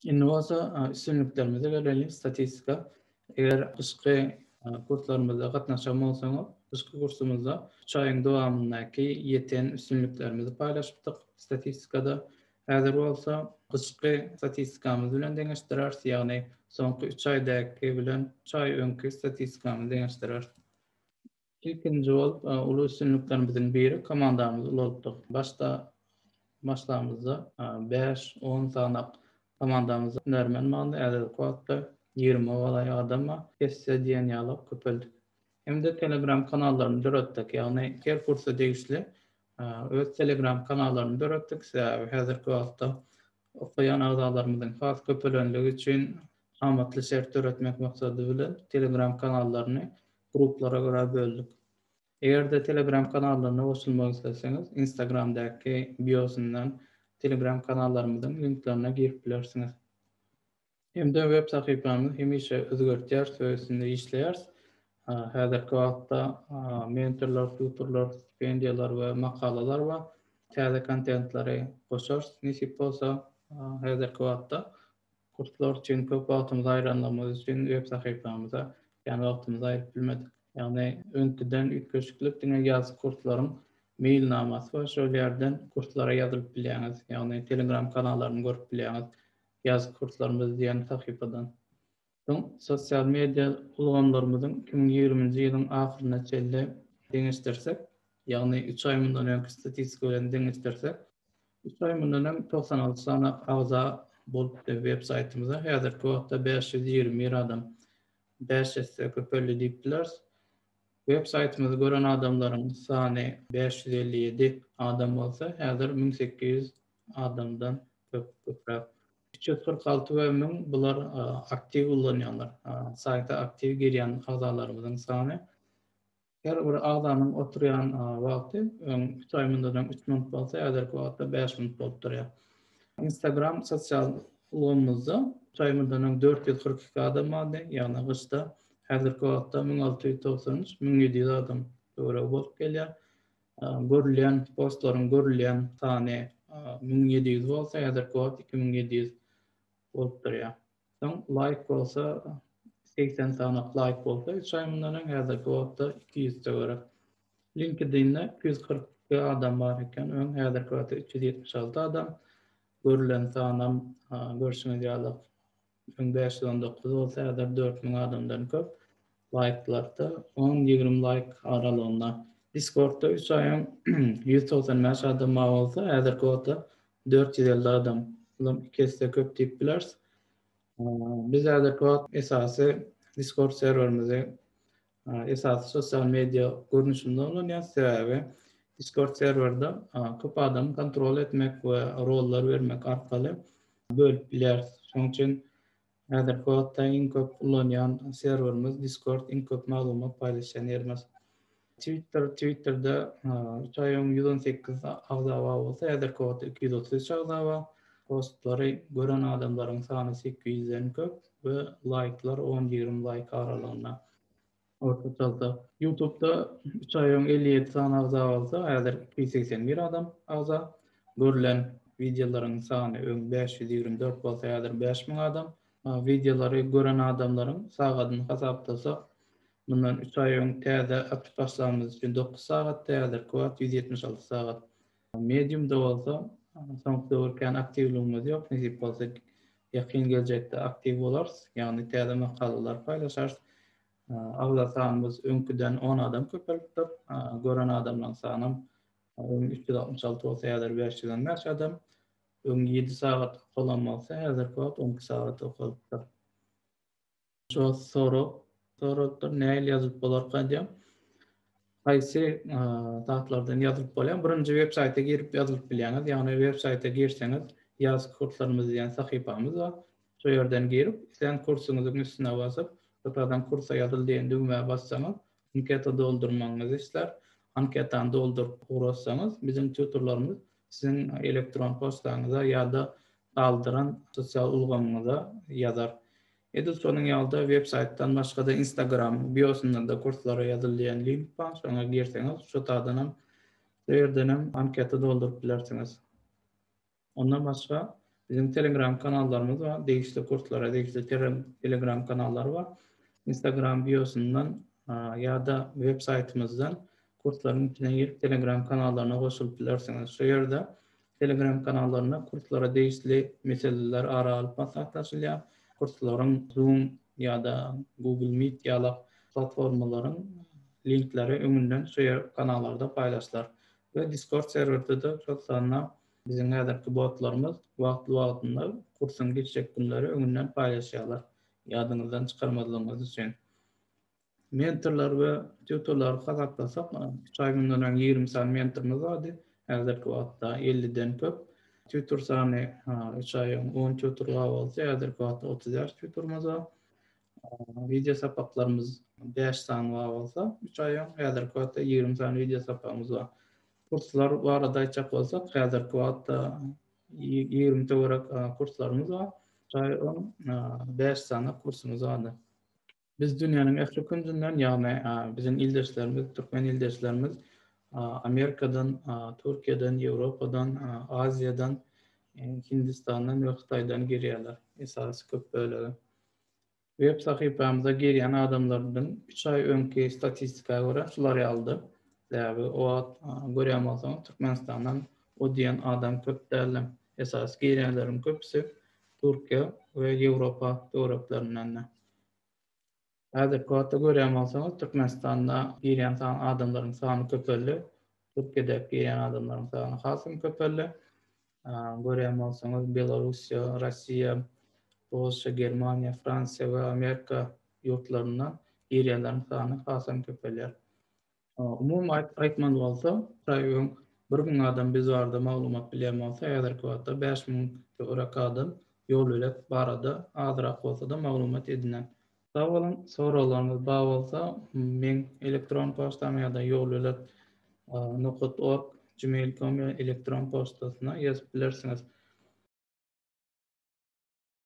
Indi bolsa üstünliklerimize gelelim, statistika. Eger gyşky kurslarymyza gatnaşan bolsaňyz, gyşky kursumyzda üç aýyň dowamyndaky ýeten üstünliklerimizi paýlaşypdyk statistikada. Häzir bolsa gyşky statistikamyz bilen deňeşdireris, ýagny soňky üç aýdaky bilen üç aý öňki statistikamyzy deňeşdireris. Ilkinji bolup uly üstünliklerimiziň biri komandamyzy ulaltdyk. Başda başlamyzda bäş, on sanak komandamyzda hünärmen bardy, häzirki wagtda ýigrime golaý adam bar. Esse diýen ýaly köpeldik. Hem-de telegram kanallaryny döretdik. Ýagny her kursa degişli öz telegram kanallaryny döretdik. Sebäbi häzirki wagtda okaýan agzalarymyzyň has köpelenligi üçin amatly şert döretmek maksady bilen telegram kanallaryny Gruplara görä böldük. Eger-de Telegram kanallaryna goşulmak isleseňiz, Instagram-daky biosyndan Telegram kanallarymyzyň linklerine girip bilersiňiz. Hem-de web sahypamyzy hemişe özgertýäris we üstünde işleýäris. Häzirki wagtda mentorlar, tutorlar, stipendiýalar we makalalar bar. Täze kontentleri goşarys nesip bolsa häzirki wagtda. Kurslar üçin köp wagtymyzy aýranlygymyz üçin web sahypamyza kän wagtymyzy aýryp bilmedik. Ýagny öňküden üýtgeşiklik diňe ýazky kurslaryň meýilnamasy bar şol ýerden kurslara ýazylyp bilýäňiz, ýagny telegram kanallaryny görüp bilýäňiz ýazky kurslarymyz diýen sahypadan. Soň sosial media ulgamlarymyzyň iki müň ýigriminji ýylyň ahyryna çenli deňeşdirsek, ýagny üç aý mundan öňki statistika bilen deňeşdirsek, üç aý mundan öň togsan alty sany agza bolupdy web saýtymyza, häzirki wagtda bäş ýüz ýigrimi bir adam bäş esse köpeldi diýip bileris. Web saýtymyzy gören adamlaryň sany bäş ýüz elli ýedi adam bolsa, häzir müň sekiz ýüz adamdan köp, köpräk. Üç ýüz kyrk alty we müň bular aktiw ullanýanlar. Saýta aktiw girýän agzalarymyzyň sany. Her bir agzanyň oturýan wagty öň üç aý mundan öň üç minut bolsa häzirki wagtda bäş minut bolup durýar. Instagram sosial ulgamymyzda üç aý mundan öň dört ýüz kyrk iki adam bardy, ýagny gyşda. Häzirki wagtda müň alty ýüz togsan üç, müň ýedi ýüz adam töweregi bolup gelýär. Görülýän postlaryň görülýän sany müň ýedi ýüz bolsa häzirki wagt iki müň ýedi ýüz bolup durýar. Soň laýk bolsa segsen sany laýk bolsa üç aý mundan öň häzirki wagtda iki ýüz töwerek. Linkedinde iki ýüz kyrk iki adam bar eken öň häzirki wagtda üç ýüz ýetmiş alty adam görülen sanam görşüňiz ýaly üç müň bäş ýüz on dokuz bolsa häzir dört müň adamdan köp laýklarda on ýigrimi laýk aralygynda diskordda üç aýyň ýüz togsan bäş adam bar bolsa häzirki wagtda dört ýüz elli adam bulam iki esse köp diýip bileris biz häzirki wagt esasy diskord serwerimizi esasy sosial media görnüşinde ulanýas, sebäbi Discord serwerde köp adamy kontrol etmek we rollar bermek arkaly bölüp bilýäris. Şonuň üçin häzirki wagtda iň köp ulanýan serwerimiz Discord, iň köp maglumat paýlaşýan ýerimiz. Twitter, Twitterda üç aý öň ýüz on sekiz agza bar bolsa, häzirki wagtda iki ýüz otuz üç agza bar. Postlary gören adamlaryň sany sekiz ýüzden köp. we laýklar on ýigrimi laýk aralygynda ortaçalda ýutubda üç aý öň elli ýedi sany agza bolsa häzir iki ýüz segsen bir adam agza görlen wideolaryň sany öň bäş ýüz ýigrimi dört bolsa häzir bäş müň adam wideolary gören adamlaryň sagadyny hasaplasak mundan üç aý öň täze açyp başlanymyz üçin dokuz sagatdy häzirki wagt ýüz ýetmiş alty sagat Mediumda bolsa soňky döwür kän aktiwligimiz ýok, nesip bolsa ýakyn geljekde aktiw bolarys, ýagny täze makalalar paýlaşarys. Agza sanymyz öňküden on adam köpelipdir, gören adamlaryň sanam öň üç ýüz altmyş alty bolsa häzir bäş ýüz on bäş adam, öň ýedi sagat okalan bolsa häzirki wagt on iki sagat okalypdyr. Şo sorag sorapdyr näil ýazylyp bolarka diýen. Haýsy zatlardan ýazylyp bolýar? Birinji web saýta girip ýazylyp bilýäňiz. Ýagny web saýta girseňiz, ýaz kurslarymyz diýen sahypamyz bar. Şo ýerden girip, islen kursuňyzyň üstüne basyp, ýokardan kursa ýazyl diýen düwmä bassaňyz, anketa doldurmagyňyzy islär. Anketany dolduryp ugrassaňyz, biziň tutorlarymyz siziň elektron poçtaňyza ýa-da galdyran sosial ulgamyňyza ýazar. Edil şonuň ýaly-da websaýtdan başga-da Instagram-yň biosynda-da kurslara ýazyl diýen link bar, şoňa girseňiz şu tadanam, şu ýerdenem anketa dolduryp bilersiňiz. Ondan başga biziň Telegram kanallarymyz bar, degişli kurslara degişli Telegram kanallary bar. Instagram biosyndan ýa-da websaýtymyzdan kurslaryň içine girip Telegram kanallaryna goşulyp bilersiňiz. Şu ýerde Telegram kanallarynda kurslara degişli meseleler ara alyp maslahatlaşylýar. Kurslaryň Zoom ýa-da Google Meet ýalak platformalaryň linkleri öňünden şu ýer kanallarda paýlaşylar we Discord serwerde-de şol sanda biziň häzirki botlarymyz wagtly-wagtynda kursuň geçjek günleri öňünden paýlaşýarlar. Ýadyňyzdan çykarmazlygyňyz üçin. Mentorlar we tutorlary hasaplasak, üç aý mundan öň ýigrimi sany mentorymyz bardy, häzirki wagtda elliden köp. Tutor sany üç aý öň on tutor bar bolsa, häzirki wagtda otuz bäş tutorymyz bar. Wideosapaklarymyz bäş sany bar bolsa, üç aý öň, häzirki wagtda ýigrimi sany wideosapagymyz bar. Kurslar barada aýtjak bolsak, häzirki wagtda ýigrimi töwerek kurslarymyz bar, üç aý öň bäş sany kursumyz bardy. Biz dünýäniň ähli künjünden, ýagny biziň ildeşlerimiz, türkmen ildeşlerimiz Amerikadan, Türkiýeden, Ýewropadan, Aziýadan, Hindistandan we Hytaýdan girýärler, esasy köp bölegi. Web sahypamyza girýän adamlardan üç aý öňki statistika görä şular ýalydy. Sebäbi o wagt görýän bolsaňyz Türkmenistandan o diýen adam köp däldi. Esasy girýänleriň köpüsi Türkiýe we Ýewropa töwereklerindendi. Häzirki wagtda görýän bolsaňyz, Türkmenistanda girýän sany adamlaryň sany köpeldi. Türkiýedäki girýän adamlaryň sany has hem köpeldi. Görýän bolsaňyz, Belarussiýa, Russiýa, Polşa, Germaniýa, Fransiýa we Amerika ýurtlaryndan girýänleriň sany has hem köpelýär. Umumy aýtmaly bolsa, Praýugyň bir müň adam biz barada maglumat bilýän bolsa, häzirki wagtda bäş müň töwerek adam ýolbelek barada azrak bolsa-da maglumat edinen. Sag boluň, soraglaryňyz bar bolsa, meň elektron poçtama ýa-da ýolbelek nokat org gmail com elektron poçtasyna ýazyp bilersiňiz.